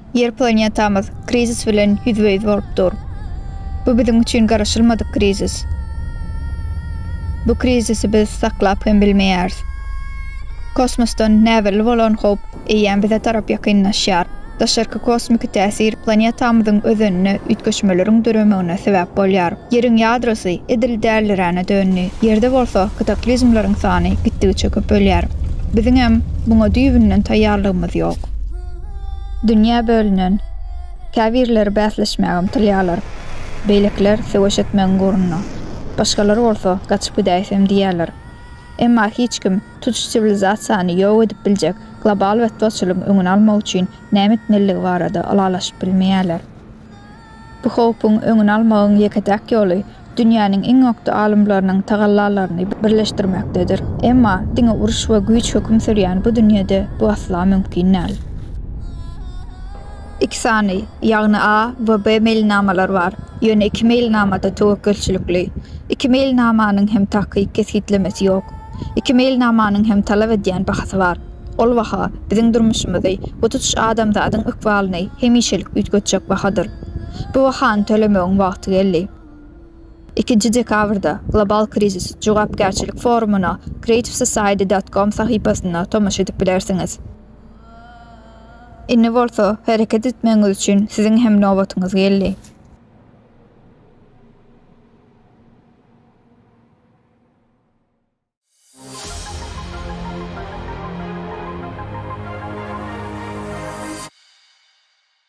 Ýer planetamyz krizis bilen ýüzbe-ýüz bolup dur. Bu biziň üçin garaşylmadyk krizis. Bu krizisi biz saklap hem bilmeýäris. Kosmosdan näbelli bolan howp eýýäm bize tarap ýakynlaşýar. Daşarky kosmiki täsir planetamyzyň özenine üýtgeşmeleriň döremegine sebäp bolýar. Ýeriň ýadrosy edil däliränä döndi, Ýerde bolsa kataklizmleriň sany gitdigiçe köpelýär. Biziňem muňa düýbünden taýýarlygymyz ýok. Dünýä bölünen. Käbirleri bäsleşmäge ymtylýarlar, beýlekiler söweş etmegiň gurruna, başgalary bolsa gaçyp gidäýsem diýýärler. Emma hiç kim tutuş siwilizasiýany ýok edip biljek global betbagtçylygyň öňüni almak üçin näme etmelidigi barada ylalaşyp bilmeýärler. Bu howpuň öňüni almagyň ýeke-täk ýoly dünýäniň iň okdy alymlarynyň tagallalaryny birleşdirmekdedir. Emma diňe uruş we güýç höküm sürýän bu dünýede bu asla mümkin däl. Iki sany, ýagny A we B meýilnamalar bar, ýöne iki meýilnama-da töwekgelçilikli. Iki meýilnamanyň hem takyk kesgitlemesi ýok. Iki meýilnamanyň hem talap edýän bahasy bar. Ol baha, biziň durmuşymyzy we tutuş adamzadyň ykbalyny hemişelik üýtgetjek bahadyr. Bu bahany tölemegiň wagty geldi. Ikinji dekabrda Global krizis jogapkärçilik forumyna creativesociety dot com sahypasynda tomaşa edip bilersiňiz. Indi bolsa, hereket etmegiňiz üçin siziň hem nobatyňyz geldi.